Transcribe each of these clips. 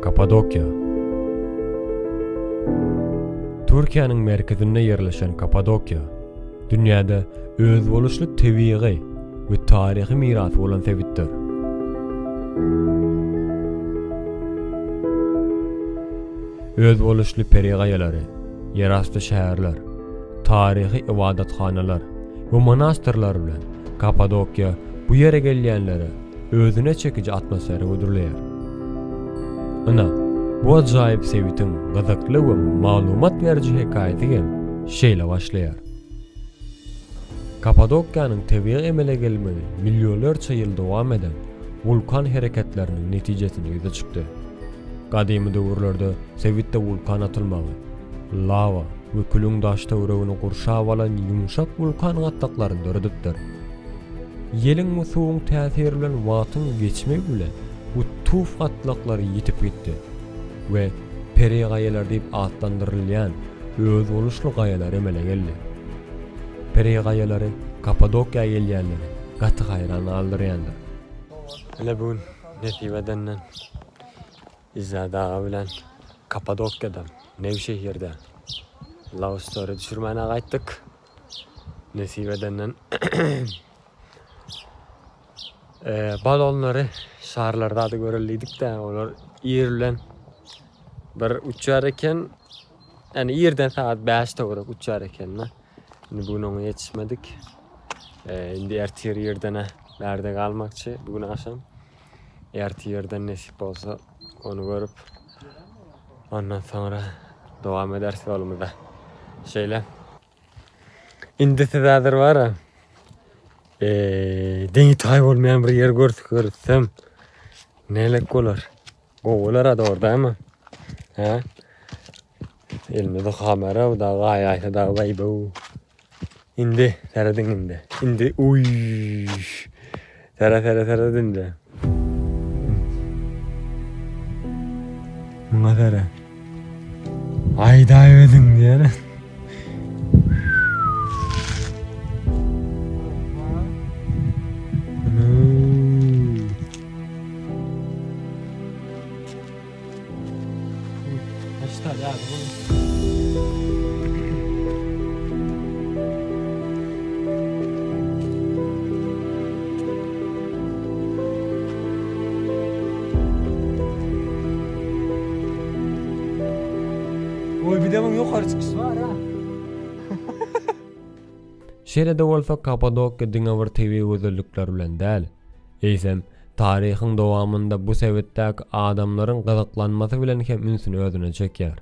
Kapadokýa Türkiýäniň merkezinde ýerleşen Kapadokýa, dünýäde özboluşly tebigy we taryhy mirasy bolan sebitdir. Özboluşly peri gaýalary, ýerasty şäherler, taryhy ybadathanalar we monastyrlar bilen Kapadokýa bu ýere gelýänlere özüne çekiji atmosfera hödürleýär. Ynha, bu ajaýyp sebitiň gyzykly we maglumat beriji hekaýasy hem şeýle başlaýar. Kapadokiýanyň tebigy emele gelmegi millionlarça ýyl dowam eden wulkan hereketleriniň netijesinde ýüze çykdy. Gadymy döwürlerde sebitde wulkan atylmagy, lawa, we külüň daş-töweregini gurşap alan ýumşak wulkan gatlaklaryny döredipdir. Ýeliň we suwuň täsiri bilen wagtyň geçmegi bilen bu tuf gatlaklary ýitip gitdi we perigaýalar diýip atlandyrylýan özboluşly gaýalar emele geldi. Perigaýalary Kappadokiýa gelýänleri gaty haýran galdyrýandyr. Ine bu gün nesip edenden Izzat aga bilen Kapadokiýadan, Newşehirden Love Story düşürmäne gaýtdyk. Nesip edenden eee, balonlary şarlar zady göreli diýdik-de, olar ir bilen bir uçýar eken. Ýani irden sagat 5 töwerek uçýar eken-de. Indi bu gün oňa ýetişmedik. Eee, indi ertir irdene bärde galmakçy, bu gün agşam. Ertirden nesip bolsa ony görüp ondan soňra dowam ederis ýolumyza. Şeýle. Indi siz häzir bara eee deňi taý bolmaýan bir ýer görsek görsem nelek bolar? Gowy bolar-a dogry dämi? Hä? Elmydam kamera da gay aysa da bay bu. İndi seredin indi. İndi uy. Sere sere sere dindi. Buna sere. Ay da ödün diyene. Şeýle-de bolsa, Kapadokiýa diňe bir tebigy gözellikler bilen däl, eýsem, Taryhyň dowamynda bu sebitdäki adamlaryň gyzyklanmasy bilen hem ünsüni özüne çekýär.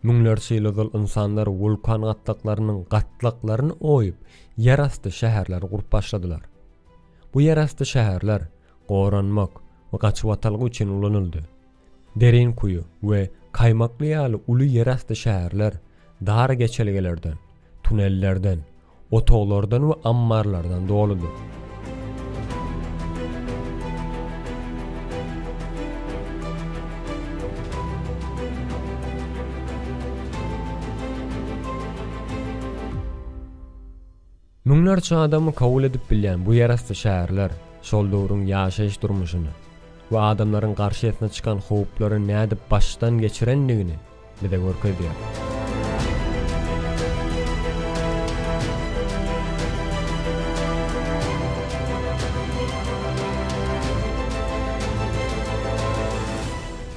Müňlerçe ýyl ozal ynsanlar wulkan gatlaklarynyň gatlaklaryny oýup, ýerasty şäherleri gurup başladylar. Bu ýerasty şäherler goranmak we gaçybatalga üçin ulanyldy. Derin kuýy we Kaýmakly ýaly uly ýerasty şäherler dar geçelgelerden, tunellerden, Otaglardan we ammarlardan doludyr. Müňlerçe adamy kabul edip bilýän bu ýerasty şäherler şol döwrüň ýaşaýyş durmuşyny we adamlaryň garşysyna çykan howplary nädip başdan geçirendigini bize görkezýär.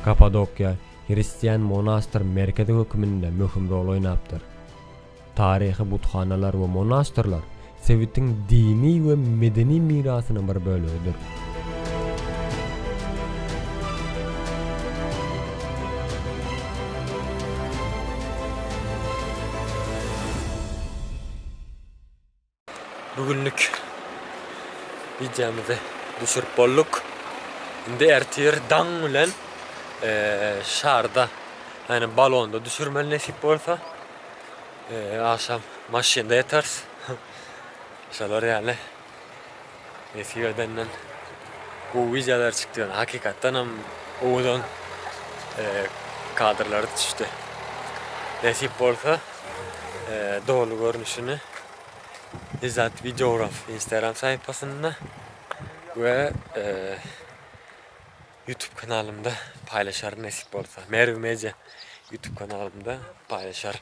Kapadokiýa hristian monastyr merkezi höküminde möhüm rol oýnapdyr. Taryhy buthanalar we monastyrlar sebitiň dini we medeni mirasynyň bir bölegidir. Bu günlük wideomyzy düşürip bolduk. Indi ertir daň bilen şarda, yani balonda düşürmeli nesip bolsa. Akşam maşynda yatarız. Şolar yani. Nesip edenden gowy wideolar çykdy ýöne hakykatdan hem owadan kadrlar düşdi. Nesip bolsa doly görnüşini Izzat Videograf Instagram sahypasynda we YouTube kanalymda paýlaşaryn nesip bolsa. Merw Media YouTube kanalymda paýlaşaryn.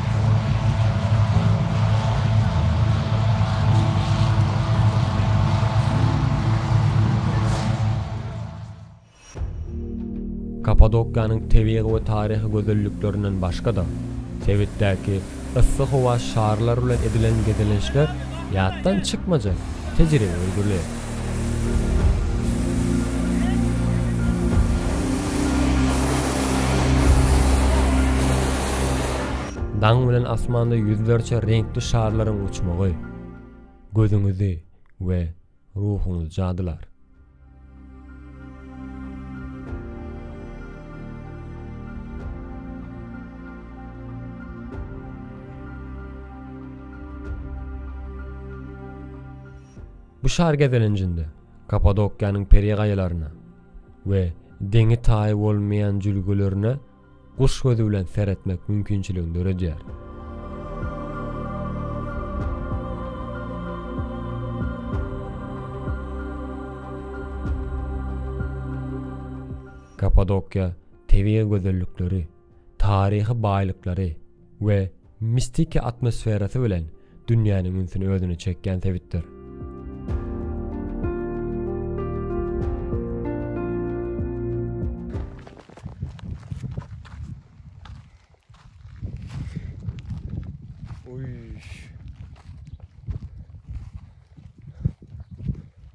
Kapadokýanyň tebigy we taryhy gözelliklerinden başga-da, sebitdäki yssy howa şarlary bilen edilen gezelençler ýatdan çykmajak tejribe öwrüler. Daň bilen asmanda ýüzlerçe reňkli şarlaryň uçmagy gözüňizi we ruhuňyzy jadylar. Bu şar gezelenjinde Kapadokiýanyň peri gaýalaryna we deňi-taýy bolmaýan jülgelerine guş gözi bilen seretmek mümkinçiligini döredýär. Kapadokiýa tebigy gözellikleri, taryhy baýlyklary, we mistiki atmosferasy bilen dünýäniň ünsüni özüne çekýän sebitdir.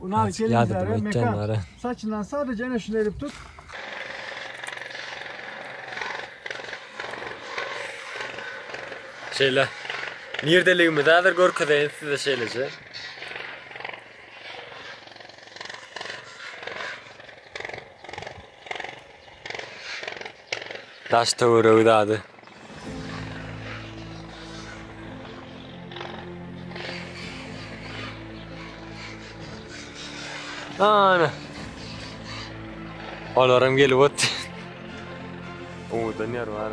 Ulan Gelin Yardım Zara et Mekan. canlara. Saçından sadece ene şunu edip tut. Şeýle. Nirdeligimizi häzir görkezeýin size şeýleje. Daş töweregi dady. Ana. Olaram gelip otdy. Owadan ýer bar.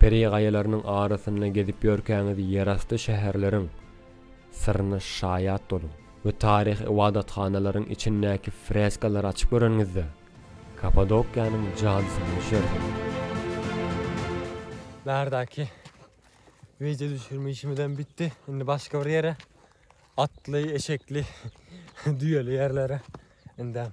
Peri gaýalarynyň arasynda gezip ýörkäňiz ýerasty şäherleriň syryna şaýat boluň we taryhy ybadathanalaryň içindäki freskalary açyp göreniňizde Kapadokiýanyň jadysyna düşersiňiz. Bärdaky wideo düşürme işimizem bitdi. Indi başga bir ýere, atly, eşekli, düýeli ýerlere indem.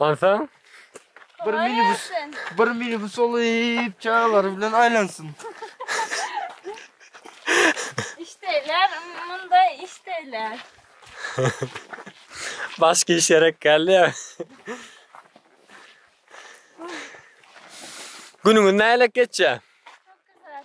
Onsoň Bir minibus, bir minibus olyp çagalary bilen aýlansyn. Işdeýler, munda işdeýler. başga iş gerek geldi ya. Günüňiz nälik geçýär? Çok güzel.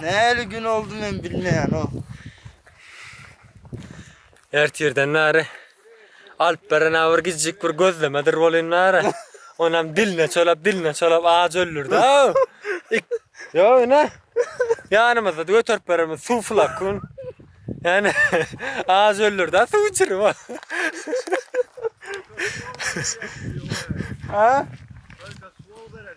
Näli gün oldy men bilmeýänok. Ertirden bäri alyp beren bir gijjik bir gözlemedir bolýan bäri. Onam diline çolap, diline çolap aç öldürdi. Ýok ine. Ýanymyzda göterip beremiz suw flakon. Ýani aç öldürdi, suw içirip. Ha?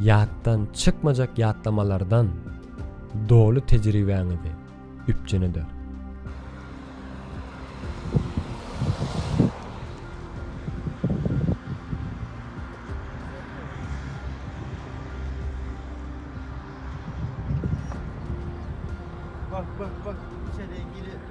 Ýatdan çykmajak ýatlamalardan doly tejribäňizi üpjün eder. Bak bak bak içeri gire.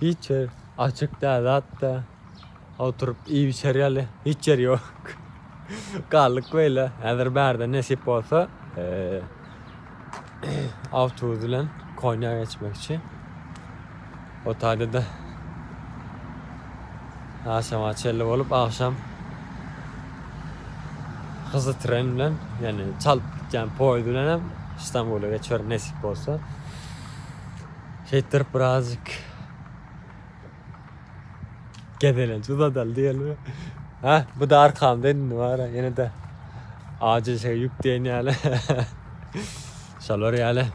Hiç ýer açyk däl zat da. Oturyp iýip içer ýaly hiç ýer ýok. Galdyk beýle. Häzir bärde nesip bolsa, eee, awtobus bilen Konýa geçmekçi. O taýda da agşama çenli bolup, agşam hyzy tren bilen, ýagny çalyp gitýän poýuz bilen hem Stambula geçerin nesip bolsa. Şeýtdirip birazjyk gezelenç uzadal diýeli. Ha, bu da arkamda indi bara, ýene de ajy şey ýük diýen ýaly. Şolar ýaly.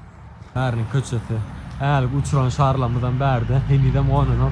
Bäriniň köçesi. Älik uçuran şarlamyzam bärde, henizem gonanok.